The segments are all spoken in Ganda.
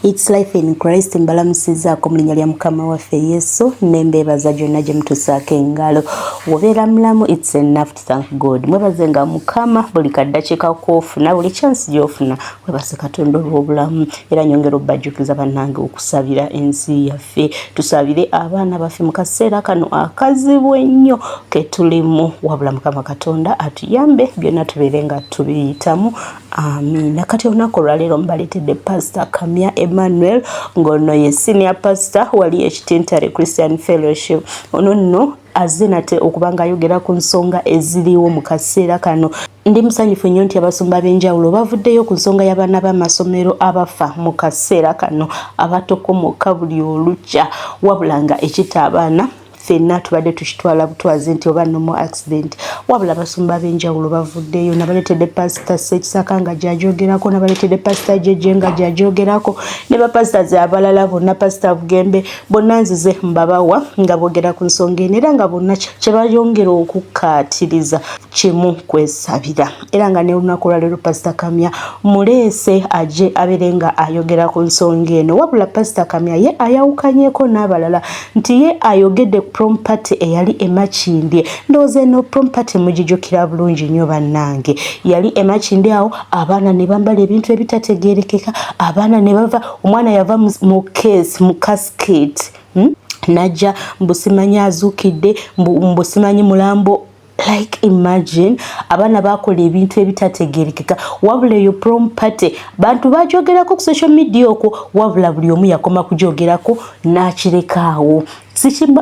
It's life in Christ mbalamusizaako mu linnya lya mukama waffe yesu ne mbeebaza gyonna gye mutusaako engalo wobeera mulamu it's enough to thank god mwebaze nga mukama buli kaddakiika kwofuna buli chance gyofuna webaze katonda olw'obulamu era nyongera obbajjukiza bannange okusabira ensi yaffe tusabire abaana baffe mu kaseera kano akazibu ennyo ke tulimu wabula mukama katonda atuyambe byonna tubeere nga tubiyitamu Amiina. Kati olunaku olwaleero mbaletedde pasita Kamya Emmanuel ng'ono ye senior pasita wali ekitintale Christian Fellowship. Ono nno azze nate okuba ng'ayogera ku nsonga eziriwo mu kaseera kano. Ndi musanyufu nnyo nti abasumba ab'enjawulo bavuddeyo ku nsonga y'abaana b'amasomero abafa mu kaseera kano abatokomoka buli olukya wabula nga ekita abaana fenna tubadde tukitwala butwazi nti oba nomu accident wabula abasumba ab'enjawulo bavuddeyo nabaleetedde pasita sekisaka nga gyajogerako nabaleetedde pasita jeje nga gyajogerako ne bapasitazi abalala bonna pasita bugembe bonna nzize mbabawa nga boogera ku nsonga eno era nga bonna kyebayongera okukkaatiriza kimu kwesabira era nga ne lunaku olwaleero pasita kamya muleese aje abeere nga ayogera ku nsonga eno wabula pasita kamya ye ayawukanyeko n'abalala nti ye ayogedde ku prom party eyali emakindye ndowooza eno prom party mugijukira bulungi nnyo bannange yali emakindye awo abaana ne bambala ebintu ebitategeerekeka abaana ne bava omwana yava mu case mu casket hmm? najja mbusimanyi azuukidde mbusimanyi mulambo like imagine abaana bakola ebintu ebitategerekeka wabula eyo prom party bantu bagyogerako ku social media okwo wabula buli omu yakoma kugyogerako n'akirekaawo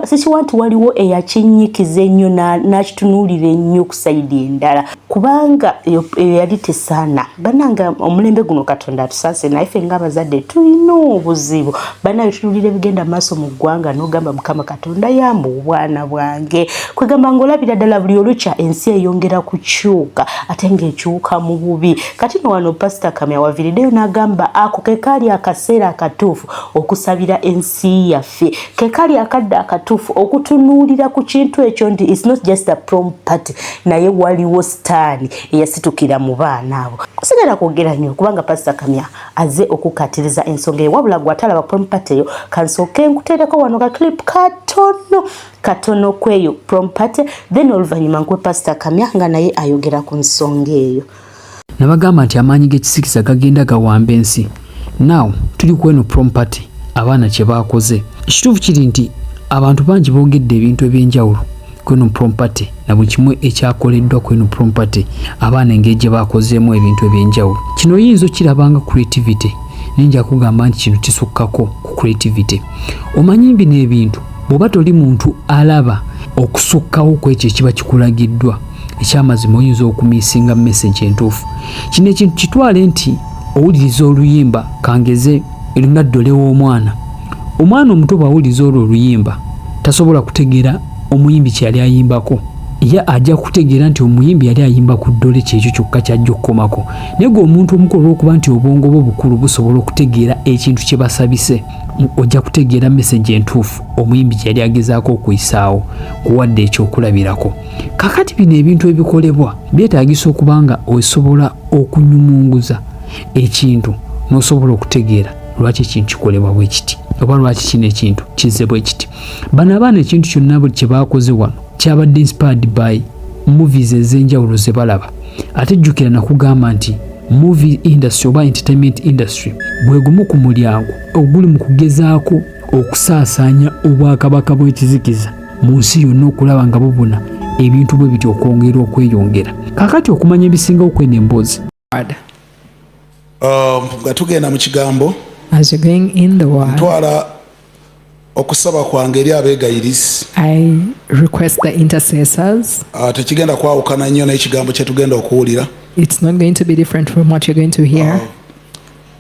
sikiwa nti waliwo eyakinyikiza ennyo n'akitunuulira ennyo ku sayidi endala kubanga eyo yali tesaana banange omulembe guno katonda atusase naye fe nga abazadde tulina obuzibu banaye tunulira ebigenda maaso mu ggwanga nogamba mukama katonda yamba obwana bwange kwegamba nga olabira ddala buli olukya ensi eyongera kukyuka ate ngaekyuka mu bubi kati no wano pasita kamya wavirideyo nagamba ako kekaali akaseera akatuufu okusabira ensi si yaffe kekali akadde akatuufu okutunuulira ku kintu ekyo nti its not just a prom party naye waliwo sitaani eyasitukira mu baana abo kusigala kwogera nnyo kubanga pasita kamya aze okukatiriza ensonga eyo wabula gwe atalaba prom party eyo kansooke nkuteereko wano ka clip katono katono kweyo prom party then oluvannyuma nkwe pasita kamya nga naye ayogera ku nsonga eyo nabagamba nti amaanyi g'ekisikiza gagenda gawamba ensi now tuli ku eno prom party abaana kye baakoze ekituufu kiri nti abantu bangi boogedde ebintu eby'enjawulo kweno prom party na buli kimu ekyakoleddwa kweno prom party abaana engeri gye baakozeemu ebintu eby'enjawulo kino yinza okirabanga creativity naye nja kugamba nti kino kisukkako ku creativity omanyi bino ebintu bw'oba toli muntu alaba okusukkawo ku ekyo ekiba kikulagiddwa ekyamazima oyinza okumisinga message entuufu kino ekintu kitwale nti owuliriza oluyimba kangeze erina ddole w'omwana omwana omuto bwawuliriza olwo oluyimba tasobola kutegeera omuyimbi kyeyali ayimbako ye ajja kutegeera nti omuyimbi yali ayimba ku ddole kyekyo kyokka kyajja okukomako naye gwe omuntu omukulu olwokuba nti obwongo bwo bukulu busobola okutegeera ekintu kye basabise ojja kutegeera meseji entuufu omuyimbi kyeyali agezaako okuyisaawo kuwadde ekyokulabirako kakati bino ebintu ebikolebwa byetaagisa okuba nga osobola okunyumunguza ekintu n'osobola okutegeera lwaki ekintu kikolebwa bwe kiti oba lwaki kino ekintu kizze bwe kiti bano abaana ekintu kyonna buli kye baakoze wano kyabadde inspired by movies ez'enjawulo ze balaba ate jjukira nakugamba nti movie industry oba entertainment industry gwe gumu ku mulyango oguli mu kugezaako okusaasaanya obwakabaka bw'ekizikiza mu nsi yonna okulaba nga bubuna ebintu bwe bityo okwongera okweyongera kakati okumanya ebisinga okwena emboozi um, nga tugenda mu kigambo ntwala okusaba kwange eri abeegayirizi uh, tekigenda kwawukana nnyo n'ekigambo kye tugenda okuwulira It's not going to be different from what you're going to hear. Uh,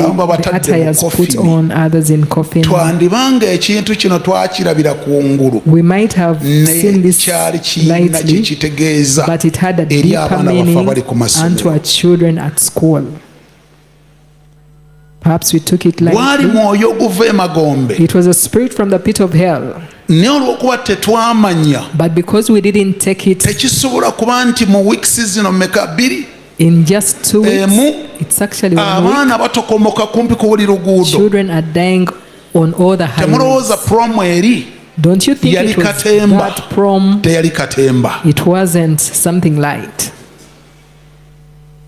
ngamba batadde mu kofini twandibanga ekintu kino twakirabira ku ngulu naye kyali kirina kye kitegeeza eri abaana baffe abali ku masomero gwali mwoyo oguva emagombe naye olwokuba tetwamanya tekisobola kuba nti mu wiikisi zino meka bbiri In just two weeks, emu it's actually one abaana batokomoka kumpi ku buli luguudo children are dying on all the highways temulowooza promo eri don't you think yali it was katemba that prom teyali katemba it wasn't something light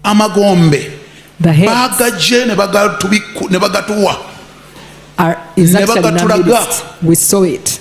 amagombe the heads bagajje ne bagatubikku ne bagatuwa are is actually we saw it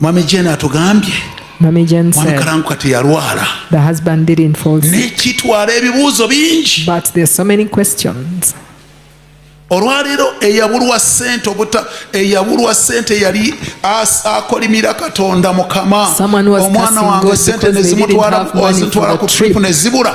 Mami Jane atugambye Mami Jane said the husband didn't fall sick. But there's so many questions. olwaleero eyabulwa sente obuta eyabulwa sente yali akolimira katonda mukama omwana wange sente nezimutwala ku tripu nezibula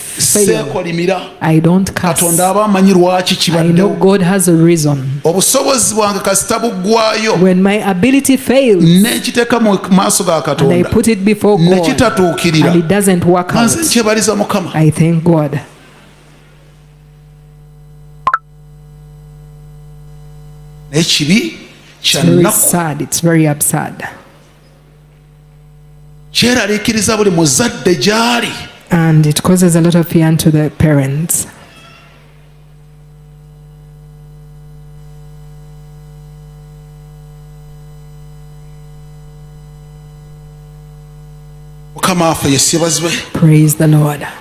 seekolimira katonda aba amanyi lwaki kibaddewo obusobozi bwange kasita buggwayo n'ekiteeka mu maaso ga katonda ne kitatuukirira nze nkyebaliza mukama ekibi kyannaku kyeraliikiriza buli muzadde gy'ali and it causes a lot of fear unto the parents mukama waffe yesibazibwe praise the lord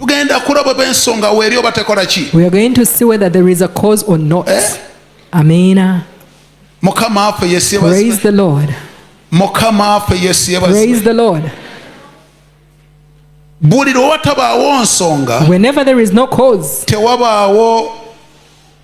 tugenda kulaba oba ensonga weeri oba tekola ki amiina mukama waffe yesu mukama waffe yesu yebazibe buli lwe watabaawo nsonga tewabaawo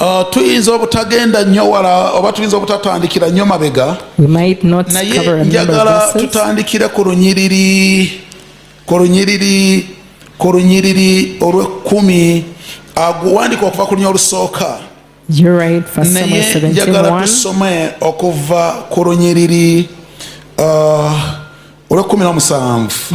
Uh, tuyinza obutagenda nnyo wala oba tuyinza obutatandikira nnyo mabega naye njagala tutandikire ku lunyiriri ku lunyiriri ku lunyiriri olw'ekkumi aguwandika okuva ku lunya olusooka naye njagala tusome okuva ku lunyiriri uh, olw'ekkumi n'omusanvu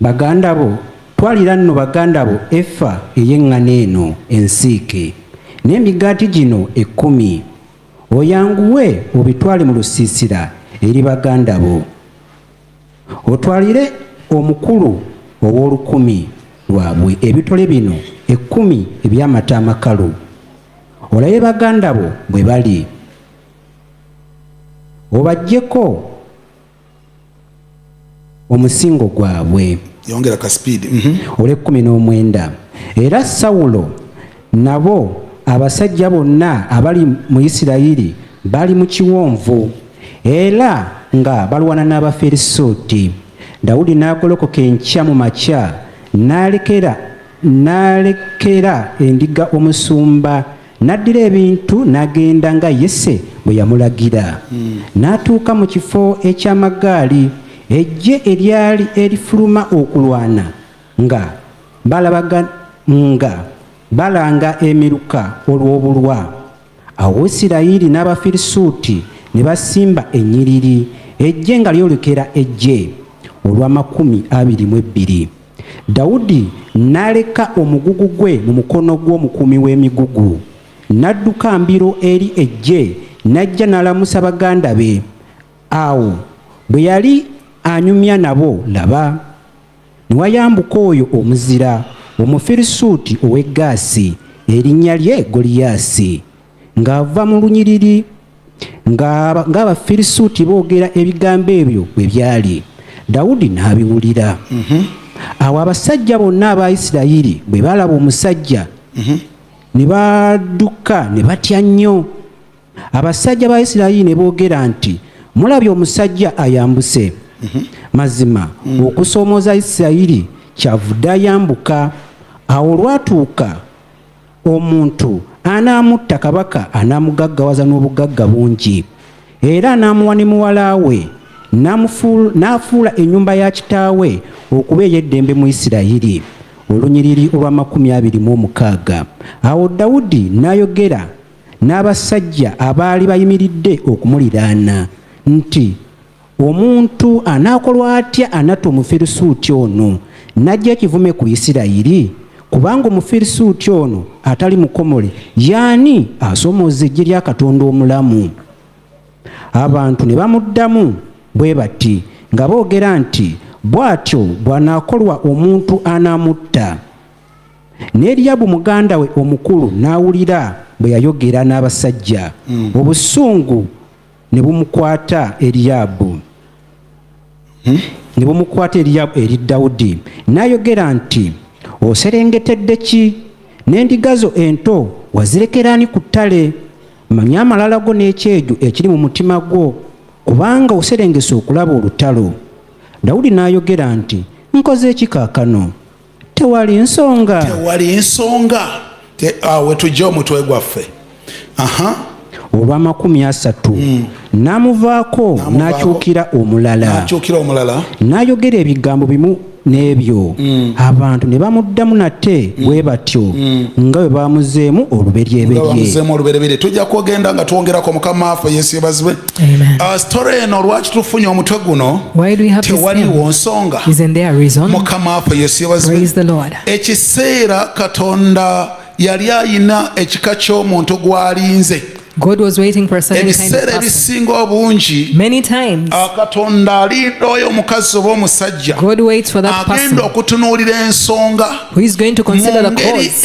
Baganda bo, twalira nno baganda bo efa ey'eŋŋano eno ensiike, n'emigaati gino ekkumi, oyanguwe obitwale mu lusiisira eri baganda bo, otwalire omukulu ow'olukumi lwabwe ebitole bino ekkumi eby'amata amakalu, olabe baganda bo bwe bali, obaggyeko. omusingo gwabwe yongera ka speed mm -hmm. olw'ekkumi n'omwenda era sawulo nabo abasajja bonna abali mu isirayiri bali mu kiwonvu era nga balwana n'abafirisuuti dawudi n'agolokoka enkya mu makya n'alekera n'alekera endiga omusumba N'addira ebintu n'agenda nga Yese bwe yamulagira. N'atuuka mu kifo eky'amagaali, eggye eryali erifuluma okulwana nga balabaga, nga balanga emiruka olw'obulwa. Awo Isirayiri n'Abafirisuuti ne basimba ennyiriri, eggye nga lyolekera eggye, olw'amakumi abiri mu ebbiri. Dawudi n'aleka omugugu gwe mu mukono gw'omukuumi w'emigugu, n'adduka mbiro eri eggye, n'ajja n'alamusa baganda be. Awo bwe yali anyumya nabo, laba! ne wayambuka oyo omuzira, Omufirisuuti ow'e Gaasi, erinnya lye Goliyaasi, Ng'ava mu lunyiriri, ng'Abafirisuuti boogera ebigambo ebyo bwe byali, Dawudi n'abiwulira. Mhm. Awo abasajja bonna aba Isirayiri bwe baalaba omusajja mhm. ne badduka ne batya nnyo. Abasajja ba Isirayiri ne boogera nti, Mulabye omusajja ayambuse? Mhm. Mazima mm. okusoomooza Isirayiri kyavudde ayambuka. Awo olwatuuka Omuntu anaamutta kabaka anaamugaggawaza n'obugagga bungi, era anaamuwa ne muwala we, n'afuula ennyumba ya kitaawe okuba ey'eddembe mu Isirayiri. Olunyiriri olw'amakumi abiri mu omukaaga Awo Dawudi n'ayogera n'abasajja abaali bayimiridde okumuliraana nti. Omuntu anaakolwa atya anatta Omufirisuuti ono n'aggya ekivume ku Isirayiri? Kubanga Omufirisuuti ono atali mukomole y'ani asoomooza eggye lya Katonda omulamu? Abantu ne bamuddamu bwe bati nga boogera nti, Bw'atyo bw'anaakolwa omuntu anaamutta. Ne Eriyabu muganda we omukulu n'awulira bwe yayogera n'abasajja, hmm. obusungu ne bumukwata Eriyaabu hmm? ne bumukwata Eriyaabu eri Dawudi n'ayogera nti oserengetedde ki n'endiga zo ento wazirekeraani ku ttale manya amalala go n'ekyejo ekiri mu mutima gwo kubanga oserengese okulaba olutalo Dawudi n'ayogera nti nkoze ekikaakano tewali nsonga tewali nsonga ah, wetujja omutwe gwaffe olw'amakumi asatu hmm. n'amuvaako n'akyukira omulala n'ayogera ebigambo bimu n'ebyo hmm. abantu ne bamuddamu nate hmm. bwe batyo nga bwe bamuzeemu oluberyeberyeolubereberye tujja kugenda nga twongerako mukama waffe yesibazibwe Uh, story eno lwaki tufunye omutwe guno tewaliwo nsonga mukama affe yesu yebazibwe ekiseera katonda yali ayina ekika ky'omuntu gwalinze God was waiting for a certain kind of person. Many times, God waits for that person who is going to consider the cause.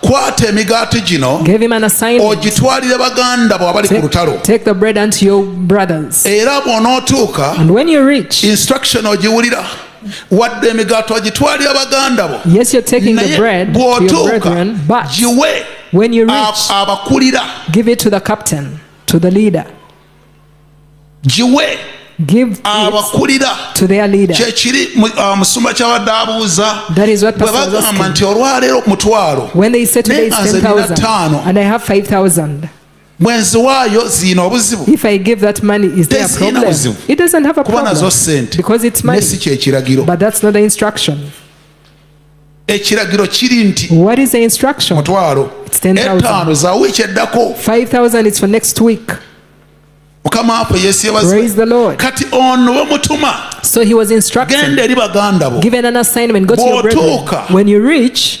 kwata emigaati gino ogitwalire baganda bo abali ku lutalo era bw'onootuuka instruction ogiwulira wadde emigaati ogitwalira baganda bo naye bw'otuuka giwe abakulira giwe abakulira kyekiri uh, musumba kyabadde abuuza bwe bagamba nti olwaleero mutwalo nenganze nina ttaano bwenziwaayo ziina obuzibu teziina buzibu kuba nazo sente ne si kyekiragiro ekiragiro kiri nti mutwalo etaano za wiiki eddako mukama waffe yesu yebaziwe kati ono bamutuma So he was instructed, given an assignment, go to your brethren. When you reach,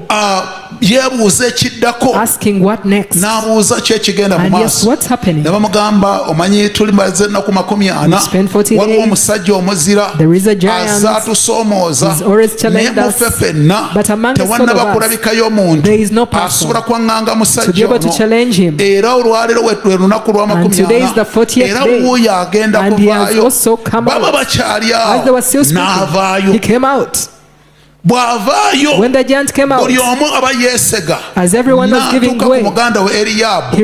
Uh, yebuuza ekiddako n'abuuza ki ekigenda mu maaso ne bamugamba omanyi tuli maze ennaku makumi ana waliwo omusajja omuzira aza atusoomooza naye mufe fenna tewannaba kulabikayo omuntu asobola kwaŋŋanga musajja ono era olwaleero lwe lunaku lwa makumi ana era wuuyo agenda kuvaayo baba bakyali awo n'avaayo bw'avaayo buli omu aba yeesega n'atuuka ku muganda we eriyabu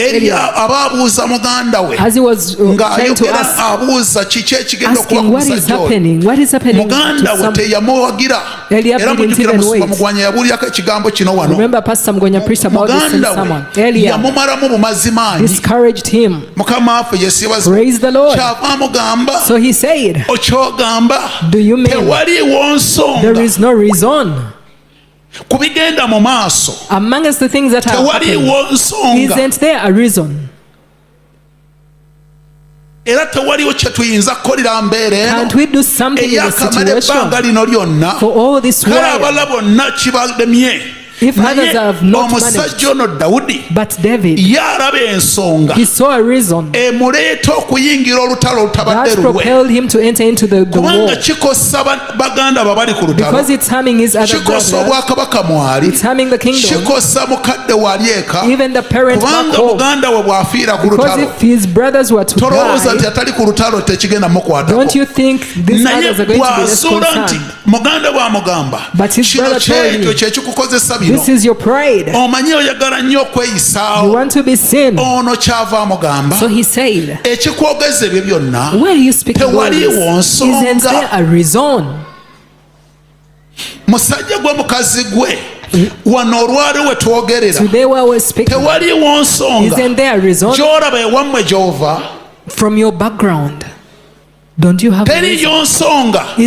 eriyabu aba abuuza muganda we ng'ayogera abuuza kiki ekigenda okuba ku musajja oyo muganda we teyamuwagira era mujjukira musumba mugwanya yabuulirako ekigambo kino wano muganda we yamumalamu bumazi maanyi mukama waffe yesibazkyava amugamba okyogamba tewaliwo nsonga ku bigenda mu maaso tewaliwo nsonga era tewaliwo kye tuyinza kukolera mbeera eno eyakamala ebbanga lino lyonna kale abala bonna kibalemye naye omusajja ono dawudi ye alaba ensonga emuleeta okuyingira olutalo olutabadde luwekubanga kikosa baganda ba bali ku lutalokikosa obwakabaka mwali kikosa mukadde wali eka kubanga muganda we bwafiira ku lutalotolowooza nti atali ku lutalo tekigenda mukwatako naye bwazuula nti muganda bwe amugamba kino kyekyo kyekikukozesa bino omanyi oyagala nnyo okweyisaawo ono kyava amugamba ekikwogeza ebyo byonna tewaliwo nsonga musajja gwe mukazi gwe wano olwali wetwogerera tewaliwo nsonga gyolaba ewammwe gyova teriyo nsonga